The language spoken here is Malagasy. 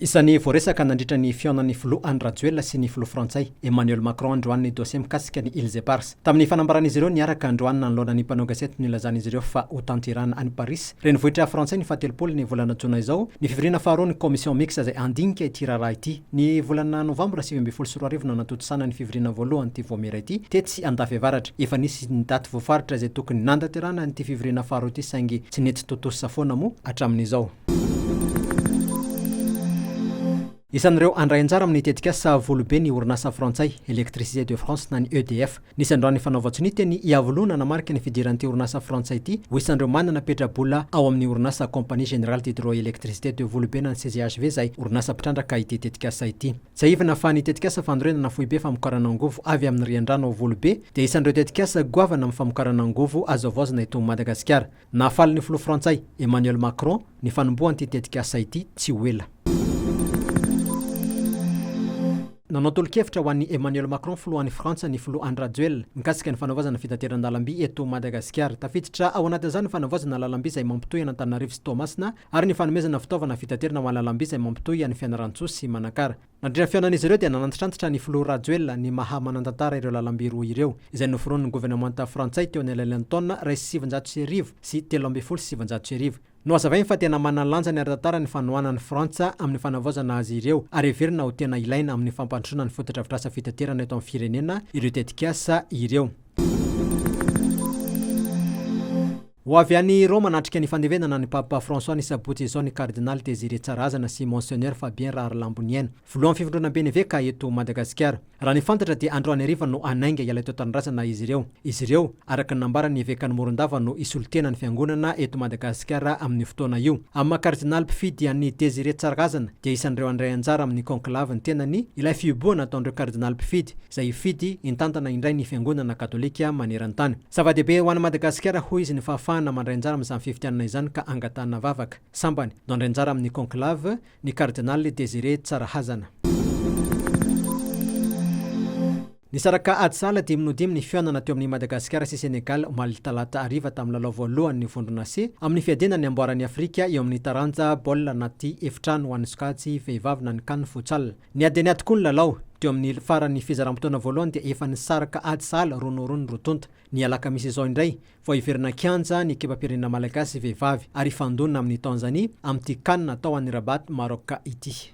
Isan'ny voaresaka nandritra ny fihaonan'ny Filoha Andry Rajoelina sy ny Filoha Frantsay, Emmanuel Macron androany ny dosie mikasika ny Îles Éparses. Tamin'ny fanambaran'izy ireo niaraka androany nanoloana ny mpanao gazety no nilazan'izy ireo fa hotanterahana any Parisy, renivohitra frantsay ny fahatelopolo ny volana jona izao ny fivoriana faharoa ny Commission mixte izay handinika ity raharaha ity. Ny volana novambra sivy ambin'ny folo sy roa arivo no natontosana ny fivoriana voalohan'ity Vaomiera ity tetsy Andafiavaratra. Efa nisy ny daty voafaritra izay tokony nandaterahana an'ity fivoriana faharoa ity saingy tsy nety tontosa foana moa hatramin'izao. Isan'ireo handray anjara amin'ny tetikasa Volobe ny orinasa frantsay Électricité de France na ny EDF. Nisy androany nifanaovan-tsonia teny Iavoloha nanamarika ny fidiran'ity orinasa frantsay ity ho isan'ireo manana petra-bola ao amin'ny orinasa Compagnie Générale d'Hydroélectricité de Volobe na ny CGHV izay orinasa mpitrandraka ity tetikasa ity. Tsiahivina fa ny tetikasa fanorenana foibe famokarana angovo avy amin'ny riandrano ao Volobe dia isan'ireo tetikasa goavana amin'ny famokarana angovo azo havaozina eto Madagasikara. Nahafaly ny filoha frantsay, Emmanuel Macron, ny fanombohan'ity tetikasa ity tsy ho ela. Nanao tolo-kevitra ho an'i Emmanuel Macron, filohan'i Frantsa, ny filoha Andry Rajoelina, mikasika ny fanavaozana ny fitateran-dalamby eto Madagasikara. Tafiditra ao anatin'izany ny fanavaozana lalamby izay mampitohy an'Antananarivo sy Toamasina ary ny fanomezana fitaovana fitaterana ho an'ny lalamby izay mampitohy an'i Fianarantsoa sy Manakara. Nandritra ny fihaonan'izy ireo dia nanantitrantitra ny filoha Rajoelina ny maha manan-tantara ireo lalamby roa ireo, izay noforonin'ny governemanta frantsay teo anelanelan'ny taona iray sy sivinjato sy arivo sy telo ambin'ny folo sy sivinjato sy arivo. Nohazavainy fa tena manana lanjany ara-tantara ny fanohanana an'i Frantsa amin'ny fanavaozana azy ireo ary heverina ho tena ilaina amin'ny fampandrosoana ny fotodrafitrasa fitaterana eto amin'ny firenena ireo tetikasa ireo. Ho avy any Roma hanatrika ny fandevenana ny Papa François ny sabotsy izao ny Kardinaly Désiré Tsarazana sy Monseigneur Fabien Raharilamboniaina, filohan'ny fivondronamben'ny eveka eto Madagasikara. Raha ny fantatra dia androany hariva no hanainga hiala eto an-tanindrazana izy ireo. Izy ireo, araka ny nambaran'ny evekan'i Morondava no hisolotena ny fiangonana eto Madagasikara amin'io fotoana io. Amin'ny maha Kardinaly mpifidy an'i Désiré Tsarazana dia isan'ireo handray anjara amin'ny conclave ny tenany ilay fihibohana ataon'ireo Kardinaly mpifidy, izay hifidy hitantana indray ny Fiangonana Katolika maneran-tany. Zava-dehibe ho an'i Madagasikara hoy izy ny fahafahana mandray anjara amin'izany fifidianana izany ka angatahana vavaka. Sambany, nandray anjara amin'ny conclave, ny Kardinaly Désiré Tsarahazana. Nisaraka ady sahala dimy noho dimy ny fihaonana teo amin'i Madagasikara sy Sénégal omaly talata hariva tamin'ny lalao voalohan'ny vondrona C amin'ny fiadiana ny amboaran'i Afrika eo amin'ny taranja baolina anaty efitrano ho an'ny sokajy vehivavy na ny can Futsal. Niady an'ia tokoa ny lalao. Teo amin'ny faran'ny fizaram-potoana voalohany dia efa nisaraka ady sahala roa noho roa ny roa tonta. Ny alakamisy izao indray, vao hiverina kianja ny ekipam-pirenena malagasy vehivavy ary hifandona amin'i Tanzanie amin'ity Can atao any Rabat, Maroc ity.